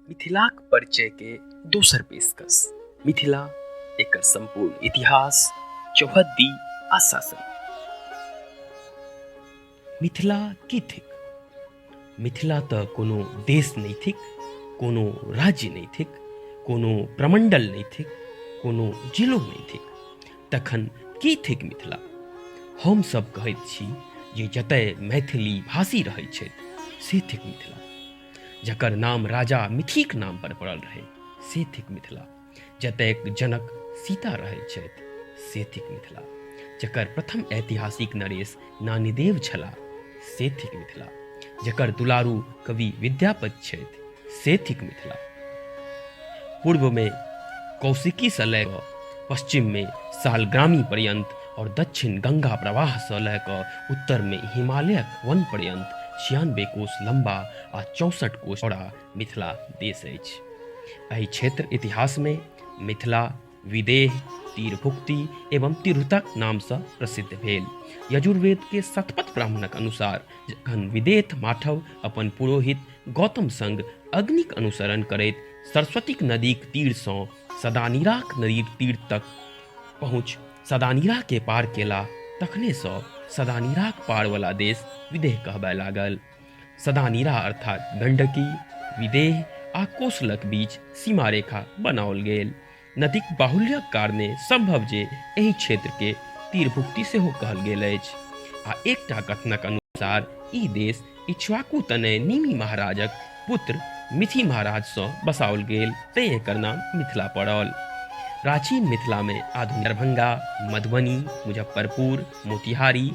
मिथिलाक परिचय के दोसर पेशकश मिथिला एक संपूर्ण इतिहास चौहद्दी आ शासन मिथिला की थिक मिथिला तो कोनो देश नहीं थिक कोनो राज्य नहीं थिक कोनो प्रमंडल नहीं थिक कोनो जिलो नहीं थिक तखन की थिक मिथिला हमसभ कहैत छी जे जतय मैथिली भाषी रहैत छथि से थिक मिथिला जकर नाम राजा मिथिक नाम पर पड़ल रहै से थिक मिथिला जतय जनक सीता रहैत छथि से थिक मिथिला जकर प्रथम ऐतिहासिक नरेश नानीदेव छलाह से थिक मिथिला जकर दुलारू कवि विद्यापति छथि से थिक मिथिला पूर्वमे कौशिकीसँ लय कऽ पश्चिममे सालग्रामी पर्यन्त आओर दक्षिण गंगा प्रवाहसँ लय कऽ उत्तरमे हिमालयक वन पर्यन्त छियानबे कोस लम्बा आ चौसठ कोस चौड़ा मिथिला देश अछि एहि क्षेत्र इतिहासमे मिथिला विदेह तीरभुक्ति एवं तिरुतक नामसँ प्रसिद्ध भेल यजुर्वेदके शतपथ ब्राह्मणक अनुसार जखन विदेह माठव अपन पुरोहित गौतम संग अग्निक अनुसरण करैत सरस्वतीक नदीक तीरसँ सदानीराक नदीक तीर तक पहुँच सदानीराके पार केला तखनेसँ सदानीराक पारवला देश विदेह कहबय लागल सदा नीरा अर्थात गंडकी विदेह आ कोसलक बीच सीमा रेखा बनाओल गेल नदीक बाहुल्यक कारणे संभव जे एहि क्षेत्र के तीरभुक्ति सेहो कहल गेल अछि आ एकटा कथनक अनुसार ई देश इक्ष्वाकु तनय निमि महाराजक पुत्र मिथि महाराजसँ बसाओल गेल तैँ एकर नाम मिथिला पड़ल प्राचीन मिथिलामे आधुनिक दरभंगा मधुबनी मुजफ्फरपुर मोतिहारी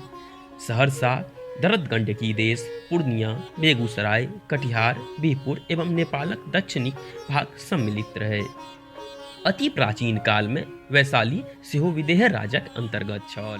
सहरसा दरद गण्डकी देश पूर्णिया बेगूसराय कटिहार बिहपुर एवं नेपालक दक्षिणी भाग सम्मिलित रहै अति प्राचीन कालमे वैशाली सेहो विदेह राजक अन्तर्गत छल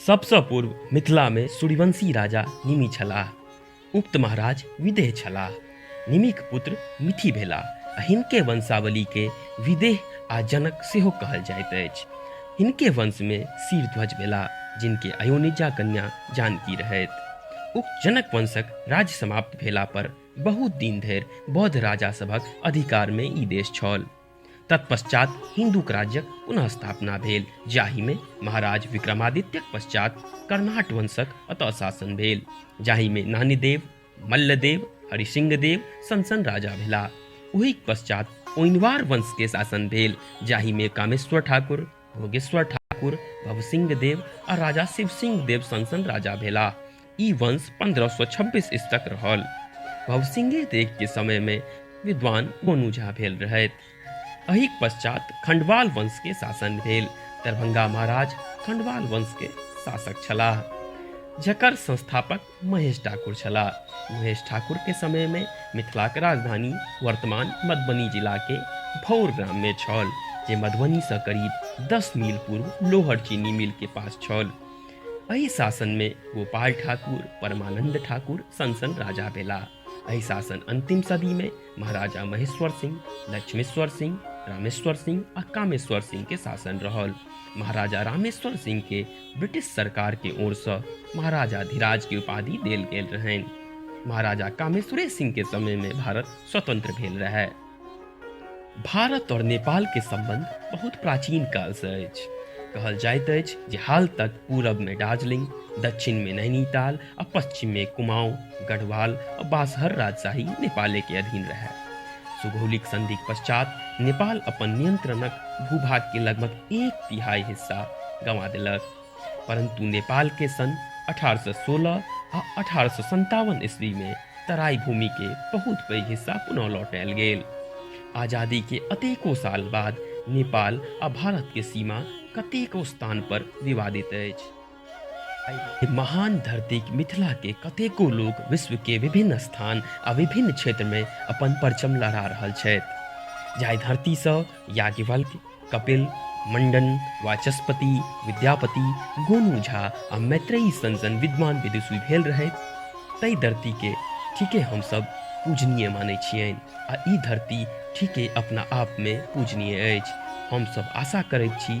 सबसँ पूर्व मिथिलामे सूर्यवंशी राजा निमि छलाह उक्त महाराज विदेह छलाह निमिक पुत्र मिथि भेला आ हिनके वंशावलीके विदेह आ जनक सेहो कहल जाइत अछि हिनके वंशमे शीरध्वज भेला जिनके अयोनिजा कन्या जानकी रहथि उक्त जनक वंशक राज्य समाप्त भेला पर बहुत दिन धरि बौद्ध राजा सभक अधिकारमे ई देश छल तत्पश्चात हिन्दूक राज्यक पुनः स्थापना भेल जाहिमे महाराज विक्रमादित्यक पश्चात कर्णाट वंशक अतः शासन भेल जाहिमे नानीदेव मल्लदेव हरिसिंहदेव सनसन राजा भेला ओहि पश्चात ओइनवार वंशके शासन भेल जाहिमे कामेश्वर ठाकुर भोगेश्वर ठाकुर भवसिंह देव आ राजा शिव सिंह देव संग संग राजा भेला ई वंश 1526 ईस तक रहल भवसिंह देव के समय में विद्वान गोनू झा भेल रहथि अहिक पश्चात खंडवाल वंश के शासन भेल दरभंगा महाराज खंडवाल वंश के शासक छलाह जकर संस्थापक महेश ठाकुर छला महेश ठाकुर के समय में मिथिला के राजधानी वर्तमान मधुबनी जिला के भौर ग्राम में छल जे मधुबनी से करीब 10 मील पूर्व लोहर चीनी मिल के पास छल एहि शासन में गोपाल ठाकुर परमानंद ठाकुर सनसन राजा भेला एहि शासन अंतिम सदी में महाराजा महेश्वर सिंह लक्ष्मेश्वर सिंह रामेश्वर सिंह आ कामेश्वर सिंह के शासन रहल महाराजा रामेश्वर सिंह के ब्रिटिश सरकार के ओर से महाराजा धिराज के उपाधि देल गेल रहन महाराजा कामेश्वर सिंह के समय में भारत स्वतंत्र भेल रहे भारत और नेपाल के संबंध बहुत प्राचीन काल से अछि कहल जाइत अछि जे हाल तक पूरब में दार्जिलिंग दक्षिण में नैनीताल आ पश्चिम में कुमाऊं गढ़वाल आ बासहर राजशाही नेपाले के अधीन रहे सुगौलिक संधि के पश्चात नेपाल अपन नियंत्रणक भूभाग के लगभग एक तिहाई हिस्सा गंवा देलक परंतु नेपाल के सन 1816 आ अठारह ईस्वी में तराई भूमि के बहुत पैघ हिस्सा पुनः लौटायल गेल आजादी के अतेको साल बाद नेपाल आ भारत के सीमा कतेको स्थान पर विवादित अछि महान धरती मिथिला के कतेको लोक विश्व के विभिन्न स्थान आ विभिन्न क्षेत्र में अपन परचम लहरा रहल छथि जाहि धरती से याज्ञवल्क कपिल मंडन वाचस्पति विद्यापति गोनू झा आ मैत्रेयी सन सन विद्वान विदुषी भेल रहथि ताहि धरती के ठीके हमसब पूजनीय मानै छियनि आ ई धरती ठीके अपना आप में पूजनीय अछि हमसब आशा करैत छी